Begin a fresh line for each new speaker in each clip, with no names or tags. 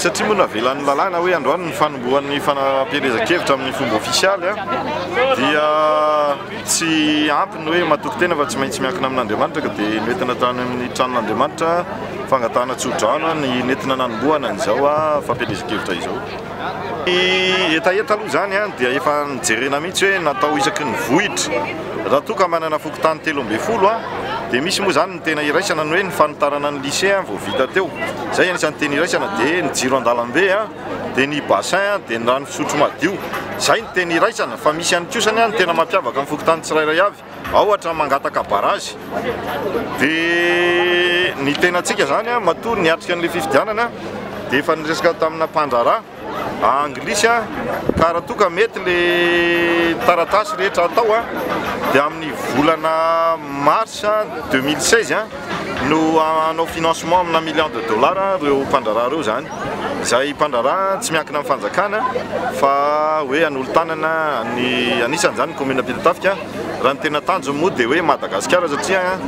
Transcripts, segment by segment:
Satria moa navelan'ny lalàna hoe androany ny fanombohan'ny fanapielezan-kevitra amin'ny fomba ofisialy dia tsy ampy ny hoe matoky tena fa tsy maintsy miankina amin'Andriamanitra ka dia nentina tany amin'ny tranon'Andriamanitra fangatahana tsodrano ny nentina nanombohana an'izao fampielezan-kevitra izao. Ny hetaheta aloha izany dia efa nijerena mihitsy hoe natao isaky ny vohitra raha toa ka manana fokontany telo ambin'ny folo dia misy moa izany Tena iraisana ny hoe ny fanitarana ny lycée vao vita teo. Izay anisan'ny tena iraisana dia ny jiro an-dalambe, dia ny bassin, dia ny rano fisotro madio. Izay ny tena iraisana fa misy ihany koa izany ny tena mampiavaka ny fokontany tsirairay avy. Ao ohatra ny mangataka barrage. Dia ny tena antsika izany matoa niatrika an'ilay fifidianana dia efa niresaka tamina mpandraharaha. anglisy a, ka raha toa ka mety le taratasy rehetra atao a, dia amin'ny volana mars deux mille seize a, no hanao financement amina million de dollars ireo mpandraharaha ireo izany, izay mpandraharaha tsy miankina amin'ny fanjakana fa hoe hanolo-tanana ny, anisany izany ny commune Ampitatafika, raha ny tena tanjony moa dia hoe Madagasikara satria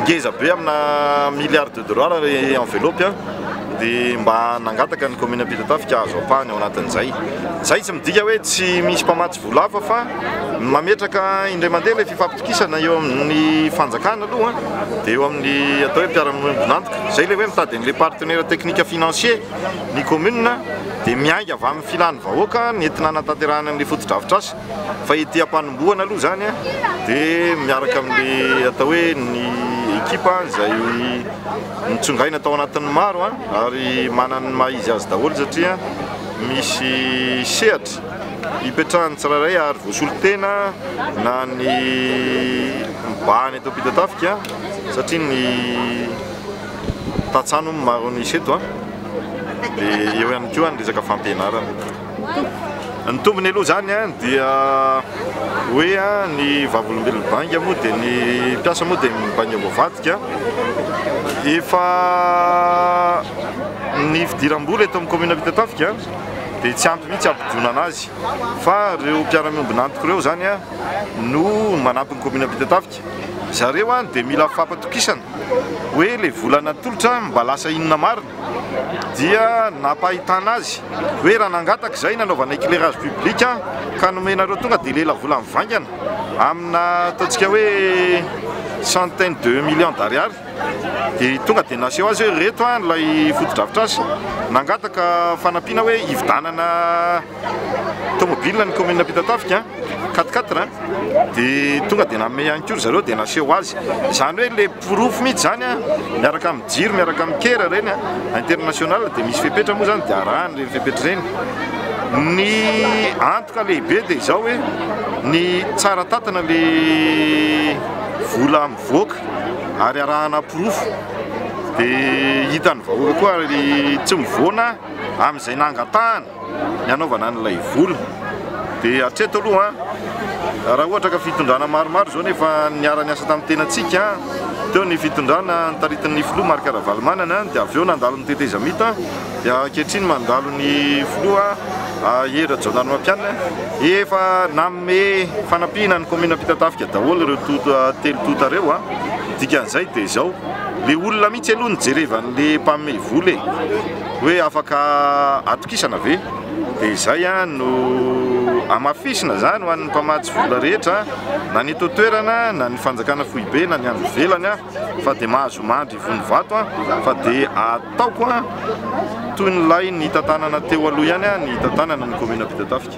ngeza be amina milliard de. Dorara ary envelope a, dia mba nangataka ny commune Ampitatafika hahazo ampahany ao anatin'izay. Izay tsy midika hoe tsy misy mpamatsy vola hafa fa ny mametraka indray mandeha ilay fifampitokisana eo amin'ny fanjakana aloha dia eo amin'ny atao hoe mpiara-miombon'antoka. Izay ilay hoe mitady an'ilay partenaire technique financier ny commune dia miainga avy amin'ny filan'ny vahoaka ny entina hanatanterahana an'ilay fotodrafitrasa. Fa ity ampanombohana aloha izany dia miaraka amin'ilay atao hoe ny ekipa izay nitsongaina tao anatin'ny maro ary manana ny maha izy azy daholo satria misy sehatra ipetrahan'ny tsirairay ary voasolo tena na ny mibahana eto Ampitatafika satria ny tantsaha no maro an'isa eto dia eo ihany koa ny resaka fampianarana. Ny tombony aloha izany dia hoe ny vavolombelona mibainga moa dia ny mpiasa moa dia mibainga voavadika. Efa ny fidiram-bola eto amin'ny kaominina Ampitatafika dia tsy ampy mihitsy hampidonana azy fa ireo mpiara-miombona antoko ireo izany no manampy ny kaominina Ampitatafika. Zareo dia mila fampatokisana hoe le vola natolotra mba lasa inona marina dia nampahitana azy hoe raha nangataka izay nanaovana éclairage public ka nomenareo tonga dia lela vola mivaingana amina ataontsika hoe centaine de millions d'ariary dia tonga dia naseho azy hoe ireto ilay fotodrafitrasa nangataka fanampiana hoe hividanana tomobilina ny commune Ampitatafika quatre quatre dia tonga dia nanome ihany koa ry zareo dia naseho azy izany hoe le porofo mihitsy izany a miaraka amin'ny jiro miaraka amin'ny kera ireny a international dia misy fepetra moa izany dia arahany ireny fepetra ireny ny antoka lehibe dia izao hoe ny tsara tatana le vola mivoaka ary arahana porofo dia hitan'ny vahoaka koa ary tsy mivoana amin'izay nangatahana Ny anaovana an'ilay vola dia hatreto aloha raha ohatra ka fitondrana maromaro izao nefa niara-niasa tamin'ny tenantsika, teo ny fitondrana taritin'ny filoha Marc Ravalomanana dia avy eo nandalo ny tetezamita dia ankehitriny mandalo ny filoha Hery Rajaonarimampianina, efa nanome fanampiana ny kaominina Ampitatafika daholo ireo tonta telo tonta ireo, dikan'izay dia izao ilay olona mihitsy aloha no jereva an'ilay mpanome vola e! hoe afaka atokisana ve? dia izay no hamafisina izany ho an'ny mpamatsy vola rehetra na ny eto an-toerana na ny fanjakana foibe na ny any ivelany fa dia mahazo mandry ivon'ny vato fa dia ataoko toy ny lay nitantanana teo aloha ihany ny hitantanana ny kaominina Ampitatafika.